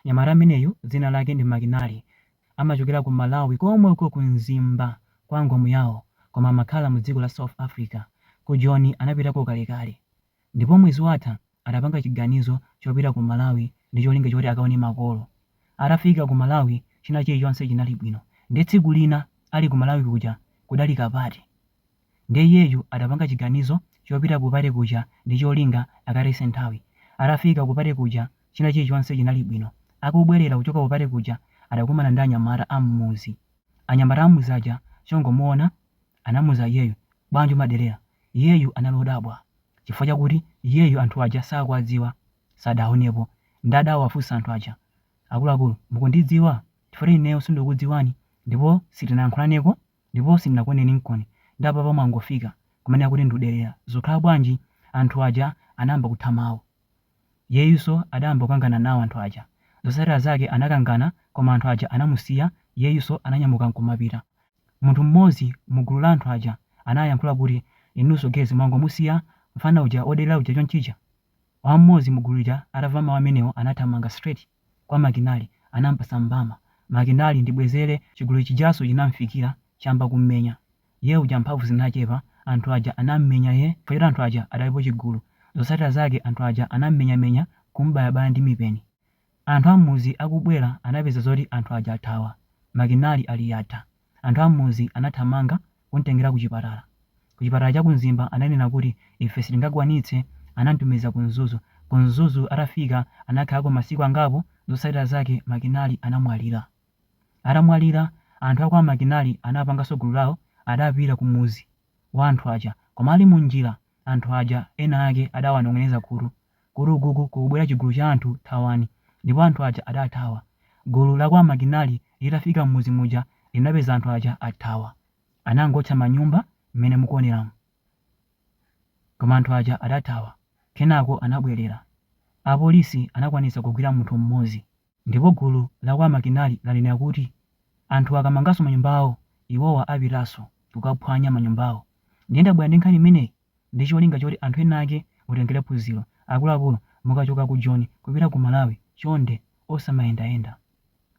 Mnyamata ameneyu dzina lake ndi Makinali amachokera ku Malawi komwe uko ku Mzimba kwa Ngomiyawo koma amakhala mu dziko la South Africa. Ku Joni anapitako kalekale ndipo mwezi watha adapanga chiganizo chopita ku Malawi ndi cholinga choti akaone makolo. Atafika ku Malawi china chilichonse chinali bwino nde tsiku lina ali ku Malawi kuja kudali kapate. Ndiye iyeyu adapanga chiganizo chopita ku pate kuja ndi cholinga akatayitse nthawi. Atafika ku pate kuja china chilichonse chinali bwino. Akubwerera kuchoka ku pate kuja adakumana ndi anyamata a m'mudzi. Anyamata a m'mudzi aja chongomuona anamuuza iyeyu, bwanji umaderera? Iyeyu anali odabwa chifukwa chakuti iyeyu anthu aja sakuwadziwa, sadawaonepo. Ndiye adawafunsa anthu aja, akuluakulu mukundidziwa? Chifukwa choti ineyo sindikukudziwani ndipo sitinayankhulaneko. Ndipo sindinakuoneni nkoni ndi apapa mwangofika kumene akuti ndikuderera zokhala bwanji anthu aja anayamba kutha mawu. Iyeyunso adayamba kukangana nawo anthu aja. Zotsatira zake anakangana koma anthu aja anamusiya iyeyunso ananyamuka nkumapita. Munthu mmodzi mugulu la anthu aja anayankhula kuti inunso guys mwangomusiya mfana uja oderera uja chonchija? Wa mmodzi mugulu lija atamva mawu amenewo anathamanga straight. kwa Makinali anampasa mbama Makinali ndibwezere chigulu chijanso chinamfikira chayamba kummenya iye uja mphamvu zinachepa anthu aja anammenya iye chifukwa choti anthu aja adalipo chigulu zotsatira zake anthu aja anammenyamenya kumbayabaya ndi mipeni anthu ammudzi akubwera anapeza zoti anthu aja athawa Makinali ali yatha Anthu a m'mudzi anathamanga kum'tengera ku chipatala. Ku chipatala cha ku Mzimba ananena kuti, Ife sitingakwanitse. Anam'tumiza ku Mzuzu. Ku Mzuzu atafika anakhalako masiku angapo, zotsatira zake Makinali anamwalira. Atamwalira, anthu a kwa Makinali anapanganso gulu lawo, adapita ku mudzi wa anthu aja. Koma ali munjira, anthu aja ena ake adawanong'oneza khutu. kuti ukoku kukubwera chigulu cha anthu thawani, ndipo anthu aja adathawa. Gulu la kwa Makinali litafika m'mudzi muja linapeza anthu aja athawa. Anangootcha manyumba mmene mukuoneramu. Koma anthu aja adathawa. Kenako anabwerera. Apolisi anakwanitsa kugwira munthu mmodzi. Ndipo gulu la kwa Makinali lanena kuti anthu akamanganso manyumbawo, iwowa apitanso kukaphwanya manyumbawo. Ndiye ndabwera ndi nkhani imeneyi ndi cholinga choti anthu ena ake mutengere phunziro. Akuluakulu mukachoka ku Joni kupita ku Malawi chonde osamayendayenda.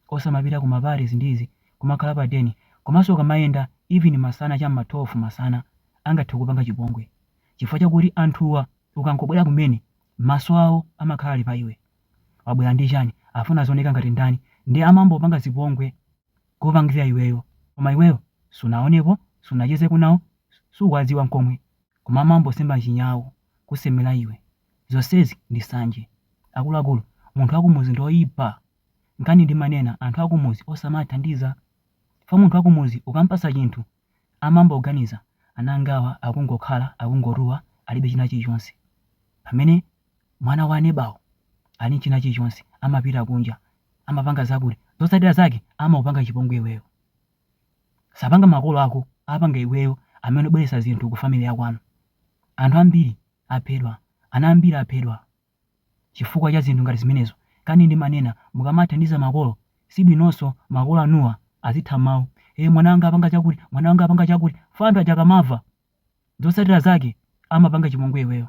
Osamapita ku ma parties ndi zina kumakhala pa den. Komanso ukamayenda even masana cha m'ma 12 masana angathe kukupanga chipongwe chifukwa chakuti anthuwa ukangobwera kumene maso awo amakhala ali pa iwe. wabwera ndi chani afuna azioneka ngati ndani nde amayamba kupanga zipongwe kukupangira iweyo koma iweyo sunaonepo sunachezeko nawo sukuwadziwa nkomwe koma amayamba kusema chinyawu kusemera iwe zonsezi ndi sanje akuluakulu munthu wakumudzi ndi oyipa nkhani ndimanena anthu akumudzi osamawathandiza chifukwa munthu wakumudzi ukampatsa chinthu amayamba kuganiza ana angawa akungokhala akungotuwa alibe china chilichonse pamene mwana wa anebawu ali ndi china chilichonse amapita kunja amapanga zakuti zotsatira zake amakupanga chipongwe iweyo sapanga makolo ako apanga iweyo amene ubweretsa zinthu ku family yakwanu anthu ambiri aphedwa ana ambiri aphedwa Chifukwa cha zinthu ngati zimenezo, nkhani ndimanena mukamathandiza makolo, si bwinonso makolo anuwa azitha mawu, ee mwana wanga apanga chakuti, mwana wanga apanga chakuti, chifukwa anthu aja akamamva, zotsatira zake amapanga chipongwe iweyo.